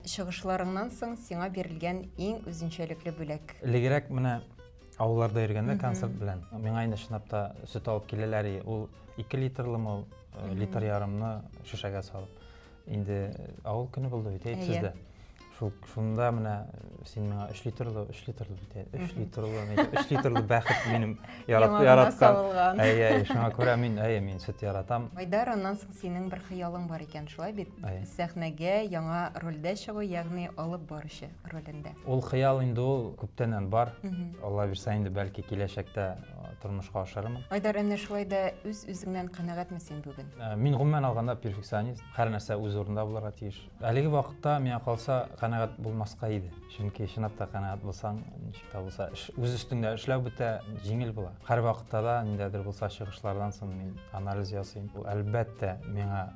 Чыгышларыңнан соң сиңа бирелгән иң үзенчәлекле бүләк? Элегрәк менә авылларда йөргәндә концерт белән миңа инде чынлап та сөт алып киләләр и ул ике литрлымы ул литр ярымны шешәгә салып инде авыл көне булды бит әйт сез дә шул шунда менә син миңа өч литрлы өч литрлы бит ә өч литрлы өч литрлы бәхет минем яраткан яңагына салынган әйе әйе шуңа күрә мин әйе мин сөт яратам Айдар аннан соң Синең бер хыялың бар икән, шулай бит? Сәхнәгә яңа рольдә чыгу, ягъни алып баручы ролендә. Ул хыял инде ул күптәннән бар. Алла бирсә инде, бәлки киләчәктә тормышка ашырырмын. Айдар, әнә шулай да үз-үзеңнән канәгатьме син бүген? Мин гомумән алганда перфекционист. Һәр нәрсә үз урынында булырга тиеш. Әлеге вакытта, миңа калса, канәгать булмаска иде. Чөнки чынлап та канәгать булсаң, ничек тә булса, эш, үз өстеңдә эшләү бетә, җиңел була. Һәрвакытта да ниндәдер булса чыгышлардан соң мин анализ ясыйм. Бу, әлбәттә, миңа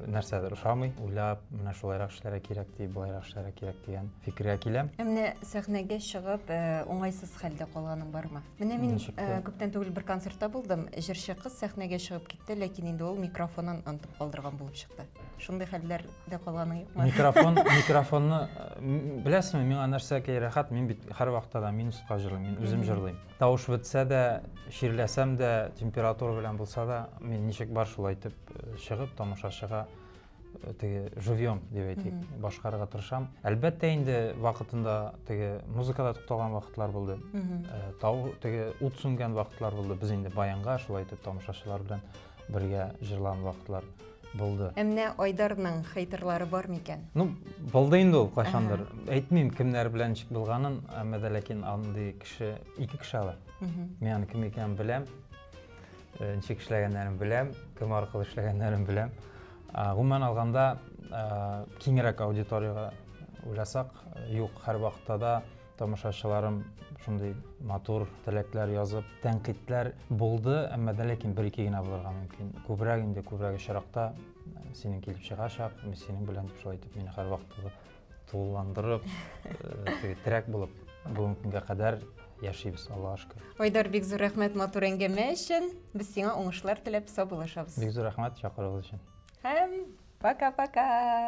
нәрсәдер ошамый. Уйлап, менә шулайрак эшләргә кирәк ди, болайрак эшләргә кирәк дигән фикергә киләм. Ә менә сәхнәгә чыгып, уңайсыз хәлдә калганың бармы? Менә мин күптән түгел бер концертта булдым. Җырчы кыз сәхнәгә чыгып китте, ләкин инде ул микрофонын онытып калдырган булып чыкты. Шундый хәлләр дә калганы юкмы? Микрофон, микрофонны беләсеңме, миңа нәрсә кей рәхәт, мин бит һәрвакытта да минусқа җырлыйм, мин үзем җырлыйм. Тавыш бетсә дә, чирләсәм дә, температура белән булса да, мин ничек бар шулай итеп э, чыгып тамашачыга э, теге живьем дип әйтик, башкарырга тырышам. Әлбәттә инде вакытында теге музыкада тукталган вакытлар булды. Э, тау теге ут сүнгән вакытлар булды. Без инде баянга шулай итеп тамашачылар белән бергә җырлан вакытлар булды. Ә менә Айдарның хейтерлары бар микән? Ну, булды инде ул кайчандыр. Әйтмим кемнәр белән ничек булганын, әмма дә ләкин андый кеше, ике кеше алар. Мин аны кем икәнен беләм. Э, ничек эшләгәннәрен беләм, кем аркылы эшләгәннәрен беләм. Гомумән алганда, э, киңрәк аудиторияга уйласак, э, юк, һәрвакытта да Тамашачыларым шундый матур теләкләр язып, тәнкыйтьләр булды, әмма дә ләкин бер-ике генә булырга мөмкин. Күбрәк инде, күбрәк очракта э, синең килеп чыгачак, мин синең белән дип шулай итеп мине һәрвакыт тулыландырып, э, терәк булып бүгенге көнгә кадәр яшибез, Аллага шөкер. Айдар, бик зур рәхмәт матур әңгәмә өчен. Без сиңа уңышлар теләп саубуллашабыз. Бик зур рәхмәт чакыруыгыз өчен. Һәм пока-пока.